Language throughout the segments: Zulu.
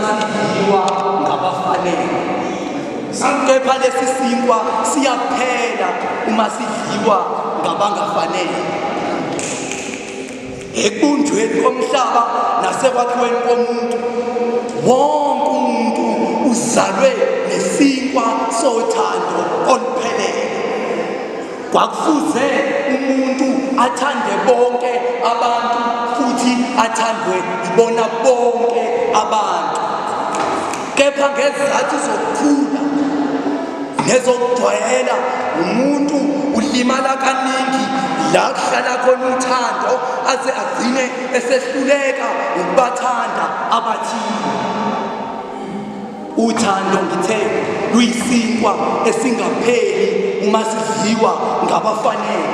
sidliwa ngabafanele kepha lesi sinkwa siyaphela uma sidliwa ngabangafanele ekubunjweni komhlaba nasekwakhiweni komuntu wonke umuntu uzalwe nesinkwa sothando oluphelele Kwakufuze umuntu athande bonke abantu futhi athandwe ibona bonke abantu. Kepha ngezizathu zokukhula nezokujwayela umuntu ulimala kaningi la kuhlala khona uthando aze agcine esehluleka ukubathanda abathile. Uthando ngithe luyisinkwa esingapheli uma sidliwa ngabafanele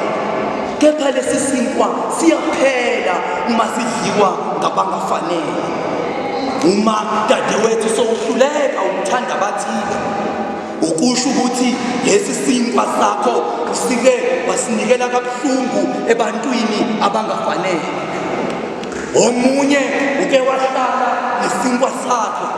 kepha lesi sinkwa siyaphela uma sidliwa ngabangafanele uma dadewethu sowuhluleka ukuthanda abathile ukusho ukuthi lesi sinkwa sakho usike wasinikela kabuhlungu ebantwini abangafanele Omunye uke wahlala nesinkwa sakhe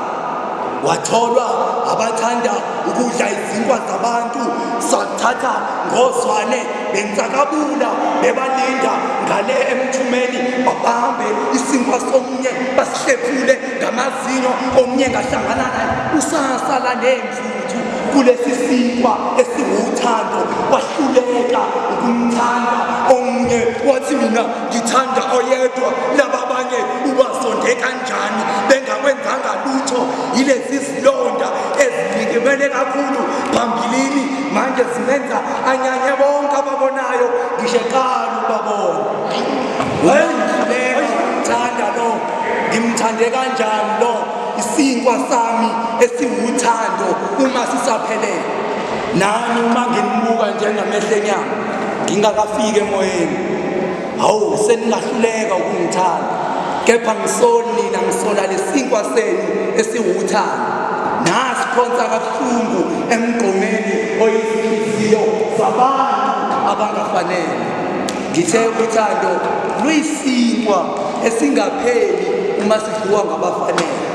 watholwa abathanda ukudla izinkwa zabantu sathatha ngozwane bensakabula bebalinda ngale emthumeni babambe isinkwa somunye basihlephule ngamazinyo omunye ngahlangana naye usasala nemfuthu kulesi sinkwa esiwuthando wahluleka ukumthanda omunye wathi mina ngithanda oyedwa nababanye ubasonde kanjani bengakwenzanga lutho yilezi zilonda ezilikimele kakhulu phambilini manje zimenza anyanye bonke ababonayo ngisho eqala ubabona ngimthanda lo ngimthande kanjani lo isinkwa sami esiwuthando uma sisaphelele nami uma ngimbuka njengamehlenyana ngingakafiki emoyeni hawu seningahluleka ukungithanda kepha ngisoli nina ngisola lesinkwa senu esiwuthando nasiphonsa kabuhlungu emgqomeni oyizinhliziyo zabantu abangafanele ngithe uthando luyisinkwa esingapheli uma sidliwa ngabafanele